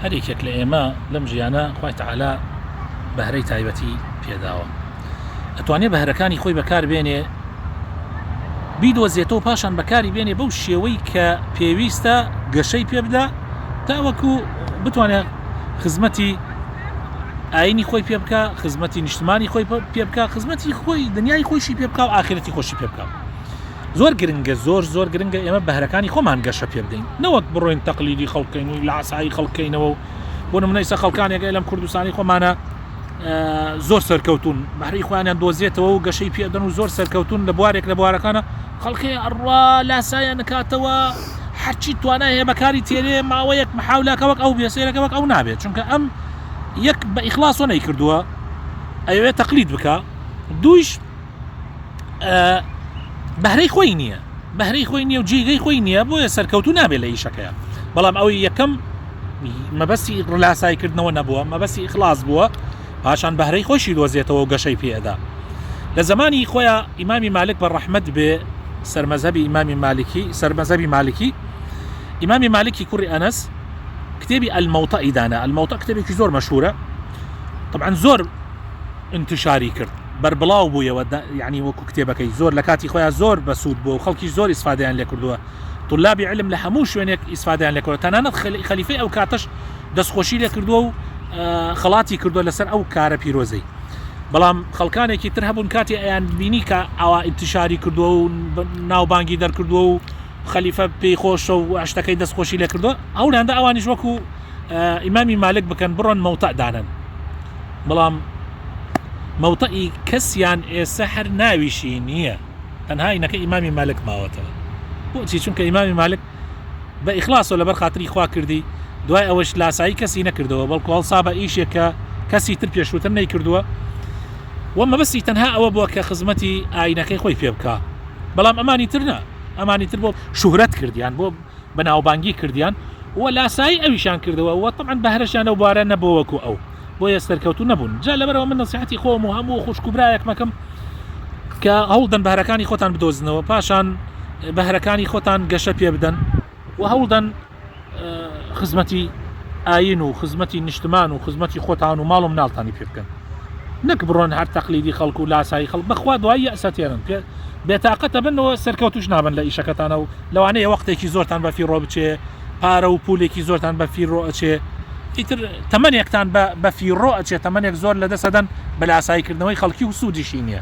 هەر یەکێک لە ئێمە لەم ژیانە خوای تەعالا بەهرەی تایبەتی پێداوە ئەتوانێ بەهرەکانی خۆی بەکاربێنێ بیدۆزێتەوە پاشان بەکاری بێنێ بەو شێوەی کە پێویستە گەشەی پێ بدا تاوەکو بتوانێت خزمەتی ئاینی خۆی پێ بکە خزمەتی نیشتمانی خۆی پێ بکە خزمەتی خۆی دنیای خۆشی پێ بکە و ئاخرەتی خۆشی پێ بکە زۆر گرنگە زۆر زۆر گرنگە ئێمە بەهرەکانی خۆمان گەشە پێ بدەین نەوەک بڕۆین تەقلیدی خەڵکەین و لاسایی خەڵکەینەوە و بۆ منە ئیسە خەڵکانێکە لەم کوردستانی خۆمانە زۆر سەرکەوتون بەهری خۆیانیان دۆزێتەوە و گەشەی پێدەن و زۆر سەرکەوتون لە بوارێک لە بوارەکانە خەڵکی ئەڕوا لاسایە نکاتەوە هەرچی توانە هەیە بەکاری تێرێ ماوەیەک محاولاکە وەک ئەو بێسێرەکە وەک ئەو نابێت چونکە ئەم یەک بە ئیخلاصۆ نەی کردووە ئەوێ تەقلید بکە دویش بەهرەی خۆی نییە بەهرەی خۆی نیە و جیگەی خۆی نییە بۆیە سەرکەوتو نابێت لە ئیشەکەیە بەڵام ئەوی یەکەم مەبەستی ڕلاسایکردنەوە نەبووە مەبەستی خلاص بووە پاشان بەهرەی خۆشی دۆزێتەوە گەشەی پێدا لە زمانی خۆیان ئیمامی مالک بە ڕەحمد بێ سەرمەزەبی ئیمامی مالکی سەرمەزەبی مالکی ئیمامی مالکی کوڕی ئەنەس کتێبی ئەلمەوتە ئیدانە ئەلمەوتە کتێبێکی زۆر مەشهورە طبعا زۆر ئینتشاری کرد بەربڵاو بوویەوە یانی وەکو کتێبەکەی زۆر لە کاتی خۆیان زۆر بەسوود بووە و خەڵکیش زۆر ئیسفادەیان لێ کردووە طلابی علم لە هەموو شوێنێک ئیسفادەیان لێ کردووە تەنانەت خەلیفەی ئەو کاتەش دەستخۆشی لێ کردووە و خەڵاتی کردووە لەسەر ئەو کارە پیرۆزەی بەڵام خەڵکانێکی تر هەبوون کاتی ئەیان بینی کە ئاوا ئینتشاری کردووە و ناوبانگی دەرکردووە و خەلیفە پێی خۆشە و شتەکەی دەستخۆشی لێ کردووە ئەولاندە ئەوانیش وەکو ئیمامی مالک بکەن بڕۆن مەوتە دانن بەڵام مەوتەئی کەسیان ئێستا هەر ناویشی نییە تەنها ئینەکە ئیمامی مالک ماوەتەوە بۆچی چونکە ئیمامی مالک بە ئیخلاصۆ لەبەر خااتری خوا کردی دوای ئەوەش لاسایی کەسی نەکردەوە بەڵکو هەڵسا بە ئیشێکە کەسی تر پێشووتر نەی کردووە و مەبستی تەنها ئەوە بووە کە خزمەتی ئاینەکەی خۆی پێ بکە بەڵام ئەمانی ترنا ئەمانی تر بۆ شوهرەت کردیان بۆ بەناوبانگی کردیان و لاسایی ئەویشان کردەوە و تەبعەن بەهرەشیان لەو بوارە نەبووە وەکو ئەو بۆیە سەرکەوتوو نەبوون جا لەبەرەوە من نەسیحەتی خۆم و هەموو خوشک و برایەکمەکەم کە هەوڵدەن بەهرەکانی خۆتان بدۆزنەوە پاشان بەهرەکانی خۆتان گەشە پێ بدەن و هەوڵدەن خزمەتی ئاین و خزمەتی نیشتمان و خزمەتی خۆتان و ماڵ و مناڵتانی پێ بکەن نەک بڕۆن هەر تەقلیدی خەڵکو و لاسایی خەڵک بەخوا دوای یەسەتێنن پێ بێتاقەتە بنەوە سەرکەوتوش نابن لە ئیشەکەتانە و لەوانەیە وەقتێکی زۆرتان بە فیڕۆ بچێ، پارە و پوولێکی زۆرتان بە فیڕۆ ئەچێ، ئیتر تەمەنێکتان بە فیڕۆ ئەچێ، تەمەنێک زۆر لەدەست ئەدەن بە لاساییکردنەوەی خەڵکی و سوودیشی نییە.